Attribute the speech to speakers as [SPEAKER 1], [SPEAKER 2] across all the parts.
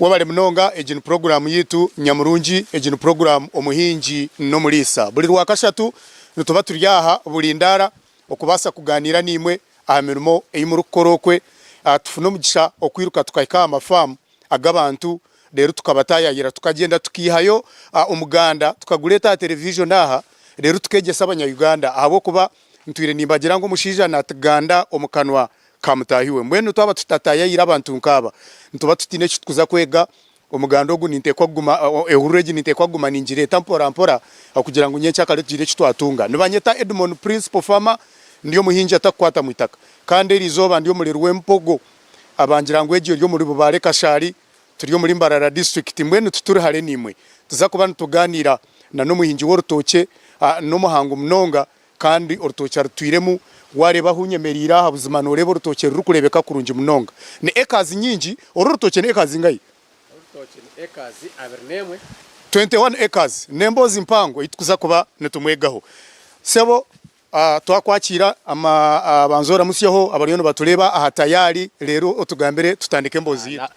[SPEAKER 1] Webale munonga egi ni puroguramu yaitu nyamurungi egi ni puroguramu omuhingi n'omuriisa buri rwakashatu nituba turi aha buri ndaara okubaasa kugaaniira naimwe aha mirimo ei murikukora okwe tufune omugisha okwiruka tukahika aha mafaamu ag'abantu reero tukaba tayayira tukagyenda tukaihayo omuganda tukagureeta aha television aha reero tukegyesa abanya-Uganda ahabw'okuba ntwire nimbagira ngu omushaija nati ganda omu kanwa ka mutaahi we mbwenu twaba tutatayayira abantu nkaaba nituba tutaine eki tukuza kwega omuganda ogu ninteekwa kuguma ehururu egi ninteekwa kuguma ningireeta mporampora kugira ngu nyenkyakare tugire eki twatunga. Nibanyeta Edmon Principal Farmer ndi omuhingi atakukwatamu itaka kandi erizooba ndi omureri w'embogo. abangira ngu egyo eri omuri Bubare Kashari turi omuri Mbarara District mbwenu tituri hare nimwe tuza kuba nituganira na nomuhingi worutookye nomuhango munonga kandi orutookye arutwiremu wareba ahu nyemerire aha buzima noreba orutookye rurukurebeka kurungi munonga ni acres nyingi oru orutookye ni acres zingahi?
[SPEAKER 2] Orutookye ni acres abiri nemwe.
[SPEAKER 1] 21 acres nemboozi mpango eyi tukuza kuba nitumwegaho sebo Twakwakiira, banza oramutsyeho abariyo nibatureeba aha tayaari reero otugambire tutandike emboozi yaitu.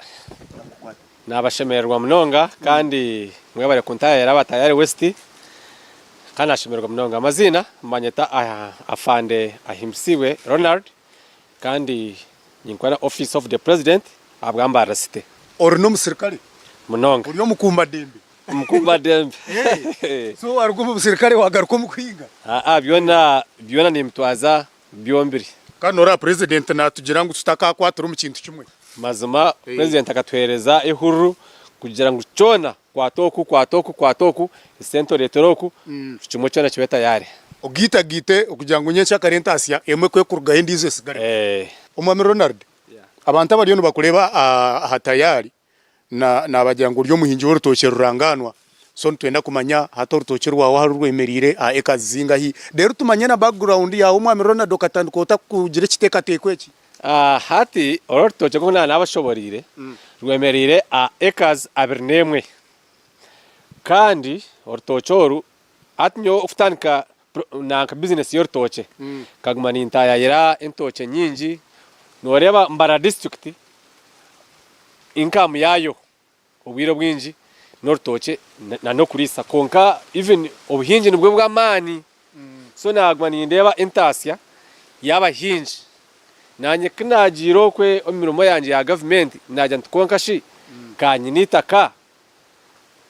[SPEAKER 1] Naabashemererwa
[SPEAKER 2] munonga kandi mwebare kuntayaayira aba Tayari West kandi naashemererwa munonga. Amaziina, banyeta Afande Ahimsibwe Ronald, Kandi ninkora Office of the President ahabwa Mbarara City. Ori n'omusirikare?
[SPEAKER 1] Munonga. Ori
[SPEAKER 2] omukuumbadembe?
[SPEAKER 1] Omukuumbadembe.
[SPEAKER 2] So
[SPEAKER 1] waaruga omu busirikare waagaruka omu kuhinga? Aa, byona
[SPEAKER 2] byona nimbitwaza byombire. Kandi nooreeba
[SPEAKER 1] Purezidenti naatugira ngu tutakaakwatira omu kintu kimwe? Mazima
[SPEAKER 2] Purezidenti akatuheereza ehururu kugira ngu kyona Kwata oku, kwata oku, kwata oku, esente oreetere oku, buri kimwe kyona kibe tayaari. Ogiitagaite
[SPEAKER 1] okugira ngu nyenkya kare entaasya emwe ku ekurugaho endiijo esigareho. Omwami Ronald, abantu abariyo nibakureeba aha tayaari naabagira ngu ori omuhingi w'orutookye rurangaanwa. So nitwenda kumanya hati orutookye rwawe ahu rwemereire aha acres zingahi? Reero tumanye na background yaawe omwami Ronald, okatandika ota kugira ekiteekateeko eki? Hati
[SPEAKER 2] oru orutookye nk'oku naaba naabashoboreire, rwemereire aha acres abiri n'emwe. Kandi orutookye oru, hati nyowe okutandika nanka business y'orutookye, nkaguma nintaayaayira entookye nyingi. Nooreeba Mbarara district, income yaayo. Obwire obwingi n'orutookye na n'okuriisa kwonka even obuhingi nibwo bw'amaani so naaguma nindeeba entaasya y'abahingi naanye ku naagiire okwe omu mirimo yangye ya gavumenti naagira nti kwonka shi ka nyine eitaka,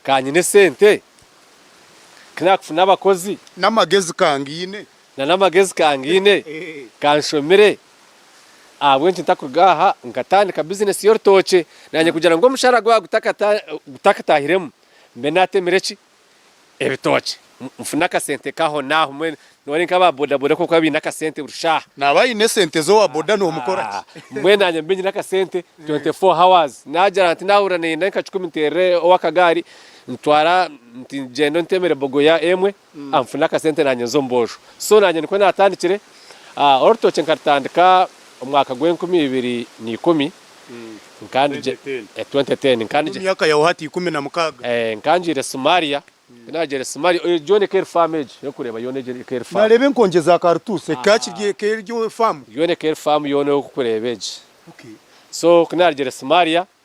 [SPEAKER 2] ka nyine esente, ku naakufuna abakozi. N'amagezi ka
[SPEAKER 1] ngiine. Na n'amagezi
[SPEAKER 2] kangaine, kanshomire ahabw'enki ntakuruga aha nkatandika bizinesi y'orutookye naanye kugira ngu omushaara gwabo gutakataahiremu mbe naatemire ki? ebitookye nfune akasente kaaho naaho mbwenu noreeba nka ba bodaboda nk'oku baaba baine akasente buri shaaha. Naaba aine sente
[SPEAKER 1] z'owa boda noomukora ki? Mbwenu naanye mbe nyine
[SPEAKER 2] akasente twenty four hours naagira nti naahurira nayenda nka kikumi nteerere ow'akagaari ntwara nti gyenda ontemere bogoya emwe. Nfuna akasente naanye nza omu boojo so naanye nikwo naatandikire. Orutookye nkarutandika omwaka gw'enkumi ibiri na ikumi, twenty ten,
[SPEAKER 1] nkangiire Somalia,
[SPEAKER 2] ku naagiire Somalia, egyo yoona ekaba eri faamu egyo orikureeba yoona egyo ekaba eri faamu. Nareeba enkonje za karutuusi,
[SPEAKER 1] egyo ekaba eri faamu. Yoona ekaba eri faamu yoona
[SPEAKER 2] oku orikureeba egyo. So ku naarugiire Somalia,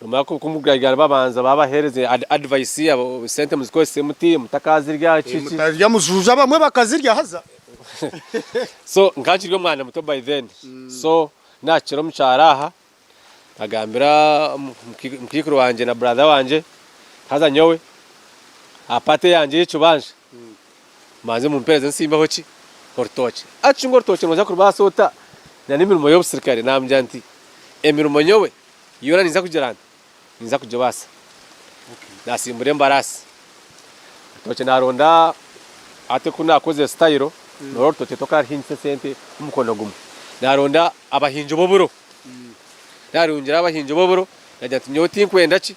[SPEAKER 2] Nomara kumugarira babanza babahereze advice abo sente muzikozese muti mutakazirya ki ki. Mutarya
[SPEAKER 1] mujuuja abamwe bakazirya haza.
[SPEAKER 2] So nkankiri omwana muto by then so nakira omukyaro aha nkagambira mukaikuru wangye na brother wangye haza nyowe aha part eyangye eyekibanja. Mbanze mumpereze nsimbeho ki? Orutookye. Acunga orutookye nooza kurubaasa ota na n'emirimo y'obusirikare? Naamugira nti, Emirimo nyowe yoona ninza kugira nta? Ninza kugibaasa. Naasimbura embaraasi. Orutookye naaronda ate ku naakozire sitayiro, nooreeba orutookye tokaruhingisa esente omukono gumwe. Naaronda abahingi b'oburo. Naarungiraho abahingi b'oburo, naagira nti, Nyowe tinkwenda ki?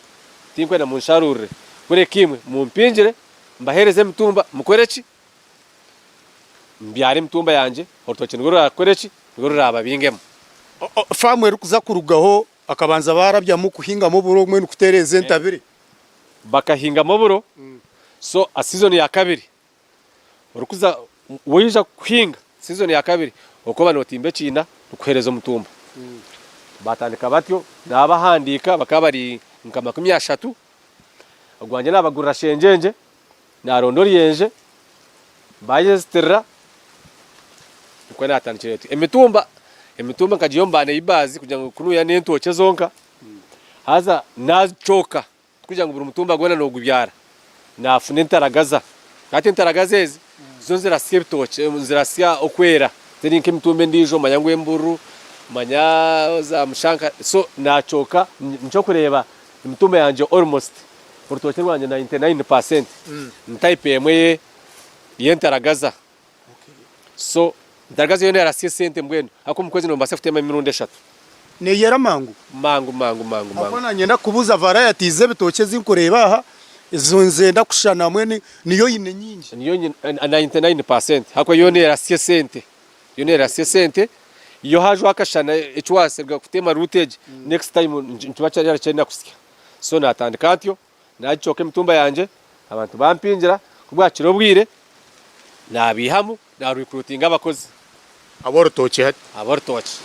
[SPEAKER 2] Tinkwenda munsharuurire. Kureka imwe mumpingire mbaheereze emitumba mukore ki? Mbyare emitumba yangye, orutookye nirwo ruraakore ki? Nirwo ruraababingemu.
[SPEAKER 1] Faamu erikuza kurugaho bakabanza baarabyamu kuhingamu oburo mbwenu kutereeza entabire. Bakahingamu
[SPEAKER 2] oburo, so aha siizoni ya kabiri orikuza waija kuhinga siizoni ya kabiri orikuba nootimba ekiina nikukuheereza omutumba. Baatandika batyo, naabahandiika bakaba bari nka makumi ashatu ogwangye naabagurira shengyengye, naaronda oryenje, baayezitirira, nikwo naatandikira eti, Emitumba, emitumba nkagiiha omu ba neibaazi kugira ngu ku nuuya n'entookye zonka, haza naazicooka, tikugira ngu buri mutumba gwona noogubyara, naafuna entaragaza, hati entaragaza ezi Zo zirasya ebitookye, zirasya okwera, teri nk'emitumba endiijo manya ngu embururu, manya zaamushanka, so naakyoka nikyo orikureeba emitumba yangye almost orutookye rwangye nainti naini paasenti ni taipu emwe y'entaragaza so Ntargaza yoona erasya esente mbwenu ahakuba omu kwezi nobaasa kuteema emirundi eshatu. Neyera
[SPEAKER 1] mangu. Mangu mangu mangu mangu.
[SPEAKER 2] Ahakuba nanyenda kukubuuza
[SPEAKER 1] varieties z'ebitookye ezi nkureeba aha ezi nzenda kushushana hamwe niyo oine nyingi. Niyo nyine ninety
[SPEAKER 2] nine percent ahakuba yoona erasya esente. Yoona erasya esente. Yo haajwaho akashana eki waaruga kuteema root egi next time nikiba kyaryarekyenda kusya. So natandika atyo. naagicooka emitumba yangye, abantu bampingira, ku bwakira obwire naabaihamu naarikruutinga abakozi. Ab'orutookye
[SPEAKER 1] hati? Ab'orutookye.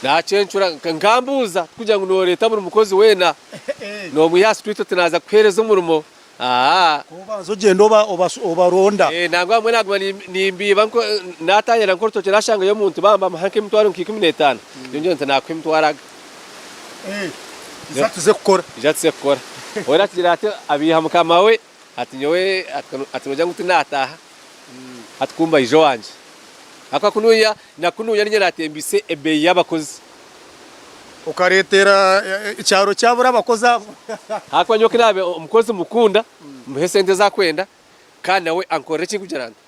[SPEAKER 2] Naacencura nkambuuza tikugira ngu nooreeta buri mukozi weena noomwiha aha sitwiiti oti naaza kukuheereza omurimo, aa. Obanza
[SPEAKER 1] ogyenda obaronda. Ee, nangwa abamwe naaguma
[SPEAKER 2] nimbiiba naataayaayira nk'orutookye naashangayo omuntu bambaho nk'emitwaro nka ikumi n'etaano, nyowe ngira nti naakuha emitwaro aga. Ija tuze kukora. Ija tuze kukora. Weena atugire ati abeiha mukama we ati nyowe ati nogira ngu tinataaha hati kumba ija owangye. Ahakuba kunuuya na kunuuya niinye natembeise ebeeyi y'abakozi. Okareetera
[SPEAKER 1] ekyaro kyabura abakozi abo. Ahakuba nyowe ku
[SPEAKER 2] naabe omukozi mukunda, mmuhe esente ezi arikwenda kandi nawe ankorere ekirikugira nti.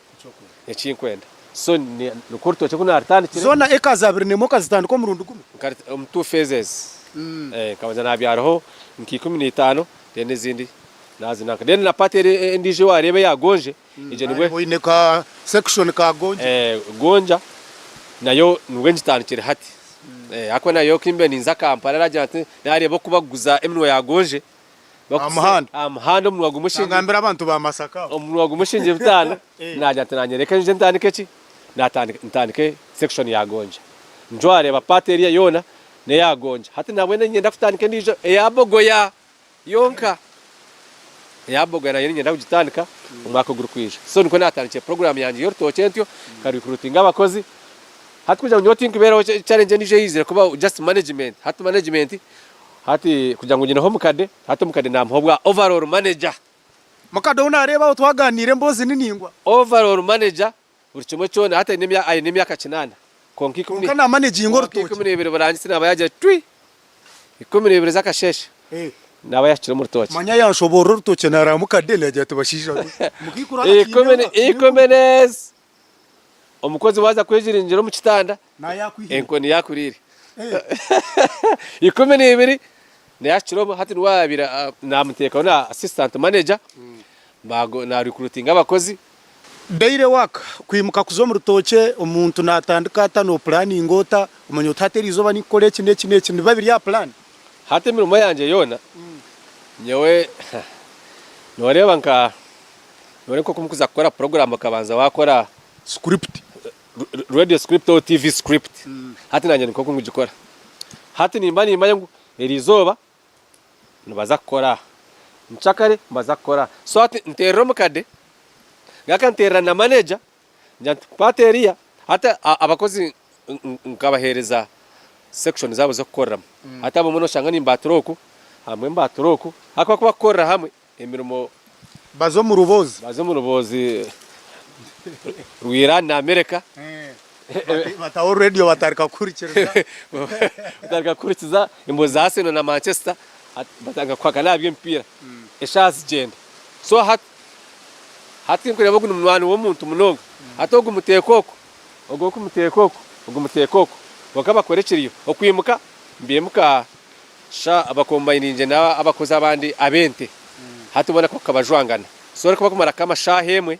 [SPEAKER 2] Ekinkwenda. So ni nikwo orutookye ku naaritandikire? Zoona acres abiri n'emwe
[SPEAKER 1] okazitandika omurundi gumwe? Nkari omu two phases.
[SPEAKER 2] Eeh nkabanza naabyaraho nka ikumi na itaano then ezindi naazinanka. Then na part eri endiijo waareeba eya Gonje, egyo nibwe. Naareeba oine ka
[SPEAKER 1] section ka Gonje. Eeh Gonja
[SPEAKER 2] nayo nibwe ngitandikire hati. Eeh ahakuba nayo ku mbiire ninza Kampala, araagira nti naareeba oku bakuguza eminwa ya Gonje. aha muhanda aha muhanda omunwa gumwe nangambira abantu ba masaka
[SPEAKER 1] omunwa gumwe shingye
[SPEAKER 2] bitaano nagira ati nanyereka nje ntandike ki natandika ntandike section ya gonja njo areeba part eriya yoona neya gonja hati nabwenu ninyenda kutandika endiijo eya bogoya yonka eya bogoya nayo ninyenda kugitandika omwaka ogurikwija so nikwo natandikire program yangye y'orutookye ntyo nka recruitinga abakozi hati kugira ngu nyowe tinkubeeraho challenge endiijo eyizire kubaho just management hati management Hati kugira ngu nyineho omukade, hati omukade namuha obwa overall manager. Mukade ou
[SPEAKER 1] nareeba aho twaganiire emboozi ni ningwa. Overall manager
[SPEAKER 2] buri kimwe kyona, hati aine emyaka kinaana kwonka ikumi n'ebiri. Kwonka namanaginga orutookye. Kwonka
[SPEAKER 1] ikumi n'ebiri burangitsi naba
[SPEAKER 2] yagire twi! Ikumi n'ebiri z'akasheeshe naba yahikire omu rutookye. Manya yanshoboorora orutookye
[SPEAKER 1] nareba mukade nagira ati bashaija be! Mukaikuru arakyineho. Ikumi
[SPEAKER 2] n'ezi Omukozi waaza kwejiringira omu kitanda, enkoni yaakuriire. Ikumi na ibiri nayo ahikire omu, hati niwe abaire naamuteekaho na assistant manager, na recruitinga abakozi. Daily
[SPEAKER 1] work, Kwimuka kuza omu rutookye, omuntu naatandika ata, noopulaaninga ota, omanya oti hati erizooba ninkukora eki n'eki n'eki, nibiba biri aha pulaani. Hati emirimo
[SPEAKER 2] yangye yoona, nyowe nooreeba nka. Noreeba nk'oku mukuza kukora puroguraamu okabanza waakora script,
[SPEAKER 1] radio
[SPEAKER 2] script or TV script. Hati naanye nikwo oku ngigikora. Hati nimba niimanya ngu eri izooba nibaza kukora aha, mucakare nibaza kukora aha. So hati nteerera omukade, ngaruka nteerera na maneja ngira nti, kwata eriya. Hati abakozi nkabaheereza sekishoni zaabo z'okukoreramu. Hati abamwe nooshanga nimbaatura oku, abamwe mbaatura oku, ahabw'okuba kukorera hamwe. Emirimo. Baze omu
[SPEAKER 1] ruboozi. Baze omu ruboozi rwa Iran na Amerika. Bataho radio batarika kuhurikiriza. Batarika
[SPEAKER 2] kuhurikiza emboozi za Arsenal na Manchester. Batarika kuhakana aha by'emipiira. Eshaaha zigyenda. So hati hati tinkureeba ogu ni munywani w'omuntu munonga. Hati ogu muteeka oku, ogu okumuteeka oku, ogu muteeka oku. Kwonka bakora ekiriyo. Okwimuka, nibimuka. Sha abakombainingye n'abakozi abandi ab'ente, hati boona kwonka bajwangana. So arikuba kumara nk'ama shaaha emwe,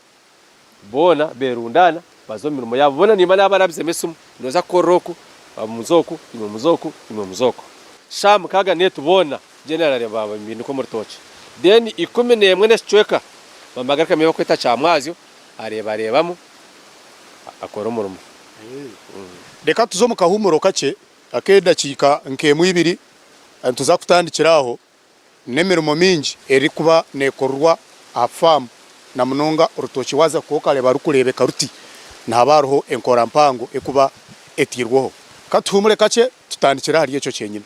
[SPEAKER 2] boona berundaana baza omu mirimo yaabo. Boona nimba nabarabizemu esimu, noza kukorera oku, bamwe muza oku, imwe muza oku, imwe muza oku. Sha mukaaga n'etu boona generali bababinika omu rutookye. Then ikumi n'emwe n'ekicweka bamara garukamu ei barikweta kya mwazyo, areebareebamu akora omurimo.
[SPEAKER 1] Reka tuze omu kahuumuro kakye ak'edakiika nk'emwe ibiri nituza kutandikira aho n'emirimo mingi erikuba nekorerwa aha faamu na munonga orutookye waaza kuba okareeba rurikureebeka ruti nihaba hariho enkora mpango erikuba etairweho. Ka tuhuumure kakye tutandikire ahari ekyo kyenyine.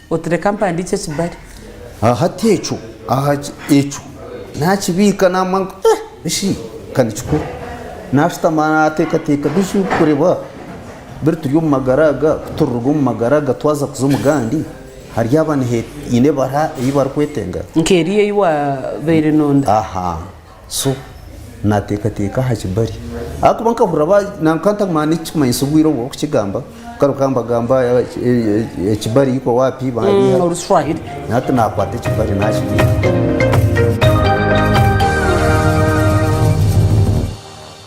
[SPEAKER 3] Oti reka mpandiikye ekibare. Aha hati ekyo,
[SPEAKER 4] aha ekyo naakibiika naamanya ngu eh eshi ka nikikuru. Naashutama naateekateeka biju kureeba biri turi omu magara aga ku turiruga omu magara aga twaza kuza omu gandi haryaba nihe haine ebara ei barikwetenga. Nk'eri ei
[SPEAKER 3] waabaire nooda. Aha.
[SPEAKER 4] so nateekateeka aha kibari ahakuba nkahurira ba na nkantaguma n'ekikumanyisa obwire obu orikukigamba nkaruga mbagamba ekibari iko waapi bandiha mm, oruswahili nati
[SPEAKER 3] nakwata
[SPEAKER 4] ekibari nakiriha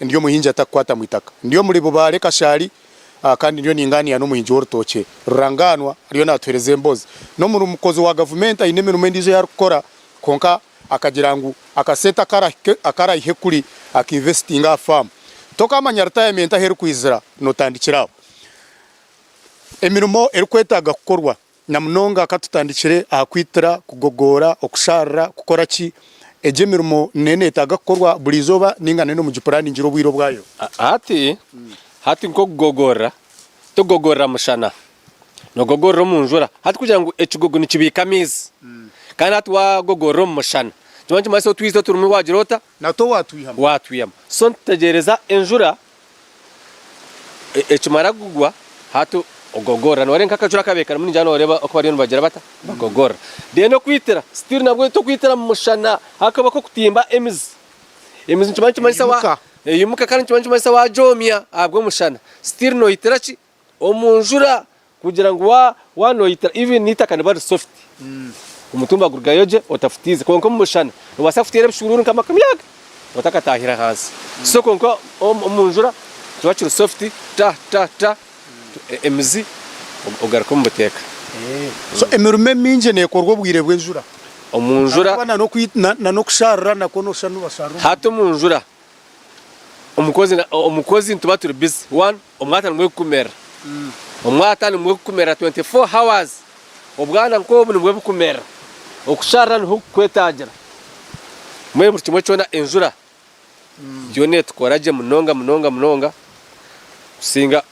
[SPEAKER 1] Ndi omuhingi atakukwata mu itaka. Ndi omuri Bubaale Kashari kandi ndiyo ningaaniira n'omuhingi w'orutookye. Rurangaanwa ariyo naatuheereza embozi. N'omuri mukozi wa gavumenti aine emirimo endiijo ei arikukora kwonka akagira ngu akasente aku araihe kuri akainvesitinge aha faamu. Tokaamanya ritayamenti ahu erikwizira, nootandikira aho emirimo erikwetaaga kukorwa. Na munonga ka tutandikire aha kwitira, kugogoora, okushaarira, kukora ki? Egyo emirimo nayo neetaaga kukorwa buri izooba nainga nayo nimugipuraaningire obwire obwayo? Hati
[SPEAKER 2] hati nk'okugogoorera, togogoorera mushana, noogogoorera omu njura. Hati kugira ngu ekigogo nikibiika amaizi, kandi hati waagogoorera omu mushana, nikimanya nikimanyisa otwizi oturimu waagira ota? Natwo waatwihama.
[SPEAKER 1] Waatwihama.
[SPEAKER 2] So nitutegyereza enjura Ekimara kugwa, hati ogogorra. Nooreeba nk'akajura aku abeekarimu ningira nooreeba oku bariyo nibagira bata? Bagogorra. Then okwitira, still nabwo tokwitira mu mushana ahakuba k'okutimba emizi. Emizi nikimanya nikimanyisa wa. Eimuka. Eimuka kandi nikimanya nikimanyisa waagyomya ahabw'omushana still noitira ki? Omu njura kugira ngu wa wa noyita even n'eitaka riba riri soft omutumba gurugayo gye otafutiize kwonka omu mushana nobaasa kufutiira ebishuuruuru nka makumi aga otakataahire ahansi so kwonka omu njura kiba kiri soft ta ta ta emizi ogaruka omu buteeka. So
[SPEAKER 1] emirimo emingi nekorwa obwire bw'enjura? Omu njura.
[SPEAKER 2] Ahabw'okuba na
[SPEAKER 1] n'oku na n'okushaarura nakwo noshusha ngu nibashaarura omu njura. Hati omu njura
[SPEAKER 2] omukozi nituba turi bizi wanu omwata nimwo gukumerera omwata nimwo gukumerera 24 hours obwana nkobu nimwo bukumerera okusharira niho kukwetagira mbwenu buri kimwe kyona enjura yoona etukora gye munonga munonga munonga
[SPEAKER 1] kusinga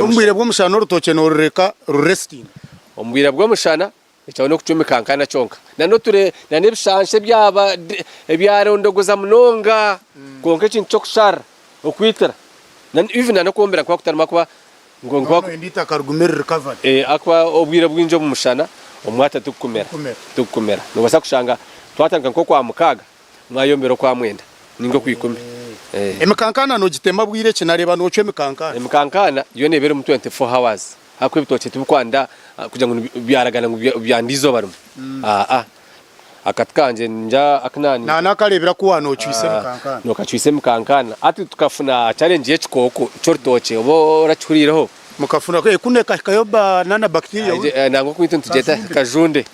[SPEAKER 1] obwire bw'omushana orutookye norureka rurestinga obwire
[SPEAKER 2] bw'omushana Ekyo n'okucwa emikankana kyonka. Na n'ebishansha ebyarondogoza munonga kwonka ekintu ky'okusharira, okwitira, even na n'okwombera kuba kutarimu ahakuba
[SPEAKER 1] obwire
[SPEAKER 2] bwingi omu mushana omwata tigukumera. Noobaasa kushanga twatandika nk'okwa mukaaga mwayombera okwa mwenda nainga okwa ikumi. Emikankana
[SPEAKER 1] noogitema bwire ki? Nareeba noocwa emikankana. Emikankana
[SPEAKER 2] yoona eba erimu twenty four hours. Ahabw'okuba ebitookye tibikwanda kugira ngu byaragana ngu byanda eizooba rimwe. Aa, akati kangye ningira aku naani. Naani akareebera ku waana
[SPEAKER 1] ocwitse emikankaana? N'okacwitse emikankaana.
[SPEAKER 2] Hati tukafuna challenge y'ekikooko ky'orutookye oba orakihuriireho? Mukafuna ku, ee kunu
[SPEAKER 1] ekahikayo ba nana bacteria we. Ee, nangwa okwaitu nitugyeta
[SPEAKER 2] kajunde.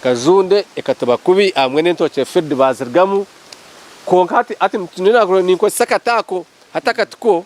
[SPEAKER 2] Kajunde ekatuba kubi aha mbwenu entookye field baazirigamu. Kwonka hati, hati nyowe ninkozesa akati ako, hati akati ko.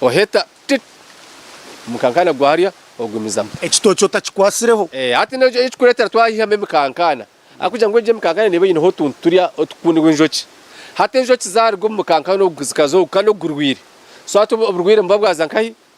[SPEAKER 2] Oheta tit Omukankaana gwa harya ogumizamu. Ekitookye otakikwatsireho.
[SPEAKER 1] Hati n'ekyo
[SPEAKER 2] ekirikureetera twayihamu emikankaana ahabw'okugira ngu egyo emikankaana neeba eineho otuntu turya otukukunirwa enjoki. Hati enjoki zaaruga omu mukankaana ogu zikaza ogu kandi ogu gurwaire. So hati oburwaire nibuba bwaza nkahi?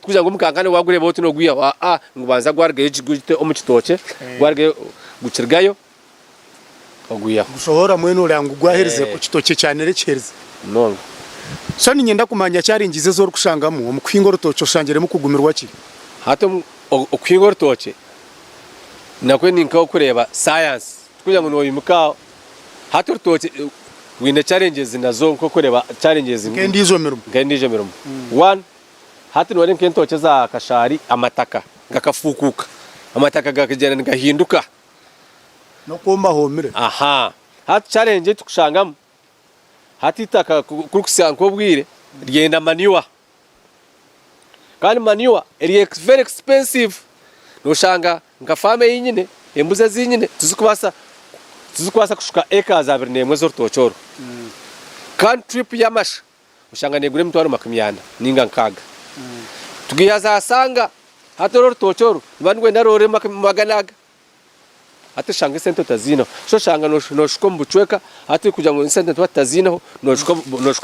[SPEAKER 2] Tikugira ngu omukankane waagureeba oti noogwihaho aa, ngu banza gwarugayo gye gute omu kitookye, gwarugayo gukirigayo ogwihaho. Gushohora mbwenu
[SPEAKER 1] oreba ngu gwaherize ku kitookye kyanire kiherize. Munonga.
[SPEAKER 2] So
[SPEAKER 1] niinyenda kumanya challenges ezi orikushangamu omu kuhinga orutookye oshangiremu kugumirwa ki? Hati omu
[SPEAKER 2] okuhinga orutookye nakwe ni nk'okureeba science. Tikugira ngu nooyimuka aho. Hati orutookye rwine challenges nazo nk'okureeba challenges Nk'endiijo mirimo.
[SPEAKER 1] nk'endiijo mirimo. One,
[SPEAKER 2] Hati noreeba nk'entookye eza kashaari amataka gakafuukuuka, amataka gakagyenda nigahinduka.
[SPEAKER 1] N'okwooma hoomire. Aha. Hati
[SPEAKER 2] challenge ei turikushangamu, hati eitaka ku kurikuhitsya nk'obwire ryenda manure. Kandi manure eri ex very expensive. Noshanga nka faamu ei nyine, embuzi ezi nyine tizikubaasa tizikubaasa kushuka acres abiri n'emwe ez'orutookye oru. Kandi trip y'amasha Oshanga negura emitwaro makumi ana ninga nkaaga tugiha za sanga hati oru orutookye oru niba nigwenda roore magana aga hati oshanga esente otaziineho so oshanga noshuka omu bucweka hati kugira ngu esente tuba tutaziineho noshuka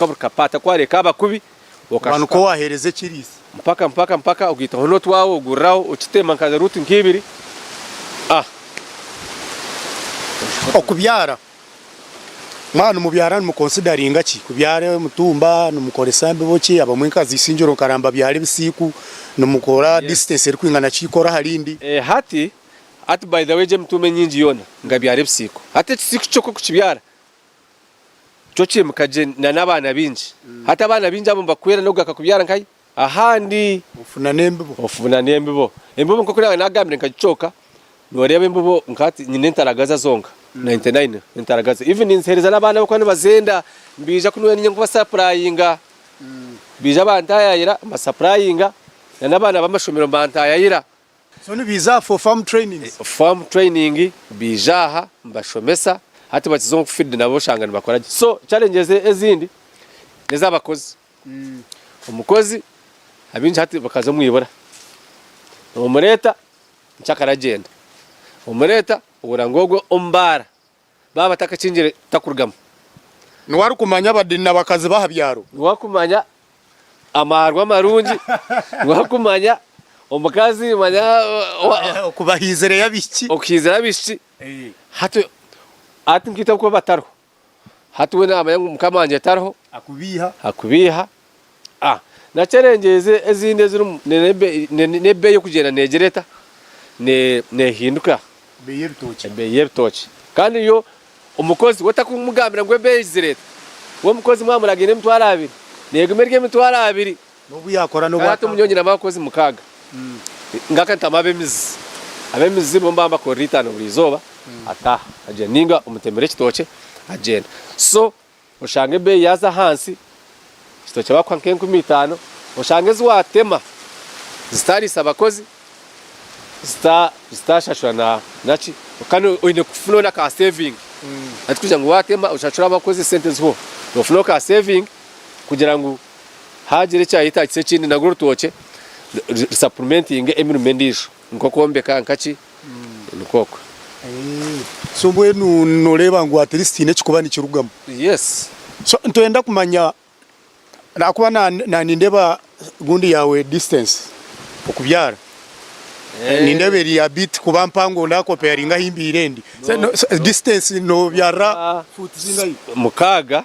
[SPEAKER 2] buri kapaata ku wareeka abakubi
[SPEAKER 1] okashuka mpaka mpaka mpaka
[SPEAKER 2] ogaitaho n'otwaawe oguriraho okiteema nka ruutu nka ibiri.
[SPEAKER 1] Mwaba nimubyara nimukonsidaringa ki? Kubyara omutumba nimukoresa mbibo ki? Abamwe nka Ziisingiro nka Ramba abyara ebisiiku, nimukora distance erikwingana ki ikoro aha rindi? Hati
[SPEAKER 2] hati by the way egyo emitumba enyingi yoona ngabyara ebisiiku. Hati ekisiiku kyokwe kukibyara kyo kiimuka gye n'abaana baingi. Hati abaana baingi abo nibakuhwera n'okugaruka kubyara nkahi? Ahandi ofuna n'embibo. Ofuna n'embibo. Embibo nk'oku naaba naagambire nkagicooka, nooreeba embibo nka hati nyine entaragaza zonka, nainti naina entaragaza. Even ninziheereza n'abaana ahabw'okuba nibazenda, nibaija ku niiwe niinye nkubasapurayinga. Baija bantaayaayira, mbasapurayinga, na n'abaana b'amashomero mbantaayaayira. So nibaija
[SPEAKER 1] aha for farm trainings? Farm training,
[SPEAKER 2] baija aha mbashomesa, hati bakiza omu field nabo oshanga nibakora gye. So challenges ezindi n'ez'abakozi. Omukozi abaingi hati bakaza omu ibura. Omureeta nikyo akaragyenda. Omureeta ohurira ngu ogwo omu baara baaba batakakingire takurugamu. Niwe
[SPEAKER 1] arikumanya abadiini na bakazi b'aha byaro. Niwe arikumanya
[SPEAKER 2] amaarwa amarungi. Niwe arikumanya omukazi manya okubahiizira
[SPEAKER 1] abishiki.
[SPEAKER 2] Hati nkaitwe abakuba batariho. Hati we naamanya ngu Mukama wangye tariho. Akubiiha. A Naki erangi ezi ezindi ezirimu n'ebeeyi y'okugyenda neegira eta? Neehinduka. Ebeeyi y'ebitookye. Kandi yo omukozi we otakumugambira ngu ebeeyi egi zireeta. We omukozi mwamuragiire emitwaro abiri, neeguma eri emitwaro abiri. Nkaraata omunyonyi
[SPEAKER 1] n'abakozi
[SPEAKER 2] mukaaga, ngaruka ntamu ab'emizi. Ab'emizi nibo mbaamu bakorera eitaano buri izooba, ataaha agyenda. Nainga omutemera ekitookye agyenda. So oshanga ebeeyi yaaza ahansi, ekitookye baakuha nk'enkumi itaano. Oshanga ezi waatema zitaariisa bakozi, zitaashashura na naki, kandi oine kufunaho n'akaaseevingi. Hati kugira ngu waatema oshashure abakozi esente zihweho, noofunaho kaaseevingi kugira ngu. Haagira ekyayetaagisa ekindi, narwo orutookye rusapurumentinge emirimo endiijo nk'okwombeka nkaki, nikwo okwe.
[SPEAKER 1] So mbwenu nooreeba ngu atirisiti haine ekikuba nikirugamu? Yes.
[SPEAKER 2] So nitwenda
[SPEAKER 1] kumanya ahakuba na nindeeba gundi yaawe disitansi okubyara nindeeba eri a biti kuba mpango ndaakopeyaringa ahi mbeire ndi. Disitansi noobyarira fuuti zingahi? Mukaaga.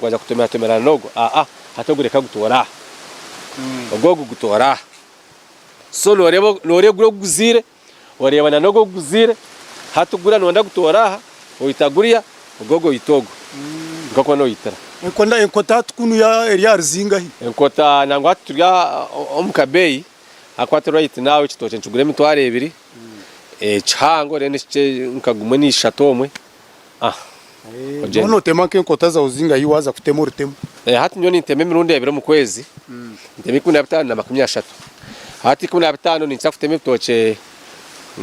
[SPEAKER 2] Waza kutomeratomera nogo aa hati ogu reka gutoore aha ogu ogu gutoore aha so noreba noregura ogu guzaire oreba na nogu ogu guzaire hati guriya noyenda gutoore aha oyita guriya ogu ogu oyita ogu nikwo kuba noyitira. Enkona enkota hati
[SPEAKER 1] kunu ya eri aha ruzingahi? Enkota nangwa hati turi
[SPEAKER 2] omu kabeeyi ahakuba hati right now ekitookye nikigura emitwaro ebiri kihango then ekikye nka gumwe na ishatu omwe. Noba
[SPEAKER 1] notema nk'enkota zaawe oziinga ahi waaza kutema orutemu? Hati nyowe nintema
[SPEAKER 2] emirundi ebiri omu kwezi, nintema ikumi na bitaano na makumi ashatu. Hati ikumi na bitaano ninkira kutema ebitookye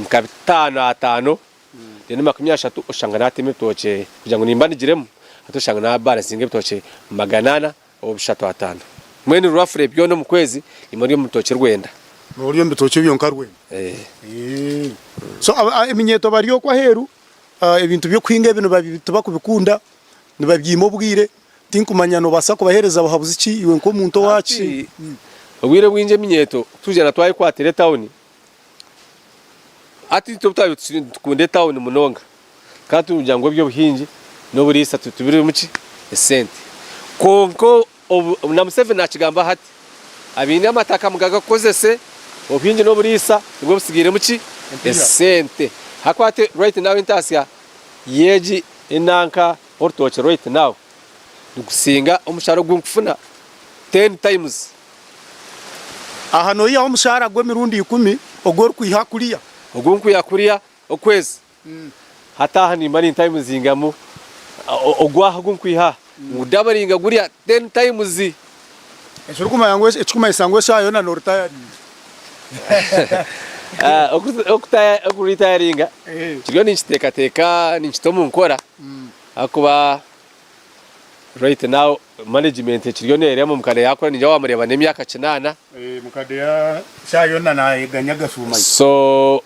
[SPEAKER 2] nka bitaano ataano, then makumi ashatu oshanga natema ebitookye kugira ngu nimbandigiremu, hati oshanga nabaara nsinga ebitookye magana ana Obushatu ataano. Mbwenu rwafure byona omu kwezi nimwo orya omu bitookye rwenda. Norya omu bitookye
[SPEAKER 1] byonka rwenda? Eeh. So eminyeeto barya okwo aheeru, ebintu by'okuhinga ebi tibakubikunda, nibabyeima obwire, tinkumanya nobaasa kubahereza buhabuzi ki iwe nk'omuntu owaaki? Hati obwire obwingi
[SPEAKER 2] eminyeeto twija na twayekwatira etawuni, Hati itwe obu twabaire tukiri nitukunda etauni munonga, tukaba nitugira ngu eby'obuhingi n'oburiisa tibirimu ki? Esente. Kwonka obu, na Museveni naakigambaho ati, Abaine amataka mugagakozese, obuhingi n'oburiisa nibwo butsigairemu ki? Esente. Ahakuba hati right now entaasya y'egi enanka orutookye right now nigusinga omushara ogu nkufuna ten times.
[SPEAKER 1] Aha noihaho omushaara gw'emirundi ikumi ogu orikwiha kuriya. Ogu nkwiha kuriya
[SPEAKER 2] okwezi hataaha nimba nintaho emizinga emwe. Ogu aha ogu nkwiha aha ngudabaringa gurya ten times.
[SPEAKER 1] Ekirikumanyisa ngu eshaaha yoona noritayaringa. Okuritayaringa nkiriyo ninkiteekateeka ninkita omu nkora ahakuba right now. Management ekiriyo neereba ngu mukade yaakura ningira waamureeba n'emyaka kinaana. Mukade eshaaha yoona naayeganya agashuuma
[SPEAKER 2] ye. So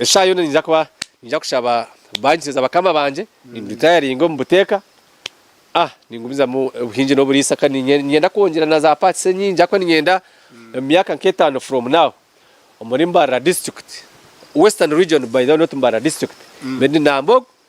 [SPEAKER 2] eshaaha yoona niija kuba niija kushaba baankiza bakama bangye nimbiritayaringa omu buteeka. Ningumizamu obuhingi n'oburiisa kandi niinyenda kwongyera na za parts enyingi ahakuba niinyenda omu myaka nk'etaano from now omuri Mbarara District, Western Region by the way not Mbarara District, mbeere ndi Nambogo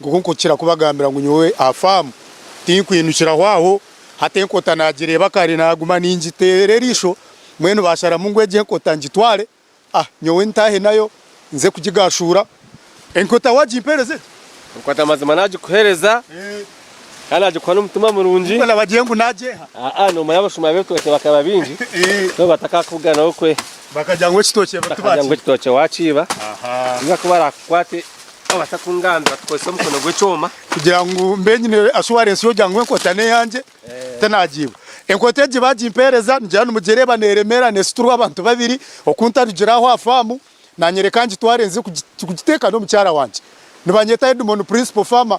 [SPEAKER 1] Nk'oku nkukira kubagambira ngu nyowe aha faamu tinkwinukiraho aho, hati enkota naagireeba kare naaguma ningiteera eriisho, mbwenu baasharamu ngu egyo enkota ngitware nyowe ntaahe nayo nze kugigaashuura. Enkota waagimpeereza egi? Enkota mazima
[SPEAKER 2] naagikuheereza kandi naagikuha n'omutima murungi. Nikwo nabagire ngu nagyeeha?
[SPEAKER 1] Aa, noomanya abashuma
[SPEAKER 2] ab'ebitookye bakaba baingi so batakaakuganaho kwe. Bakagira ngu ekitookye
[SPEAKER 1] tibakiiba. Bakagira ngu ekitookye
[SPEAKER 2] waakiiba, nibakuba barakukwate. Nobaasa kungambira kukozesa omukono gw'ekyoma? Kugira ngu mbe
[SPEAKER 1] nyine assurance y'okugira ngu enkota n'eyangye tinagiibwa. Enkota egi bagimpeereza nigira nimugireba neremera nesiturwa abantu babiri oku ntarugire aho aha faamu nanyereka ngitware nze kugiteeka n'omukyara wangye. Nibanyeta Edmon Principal Farmer.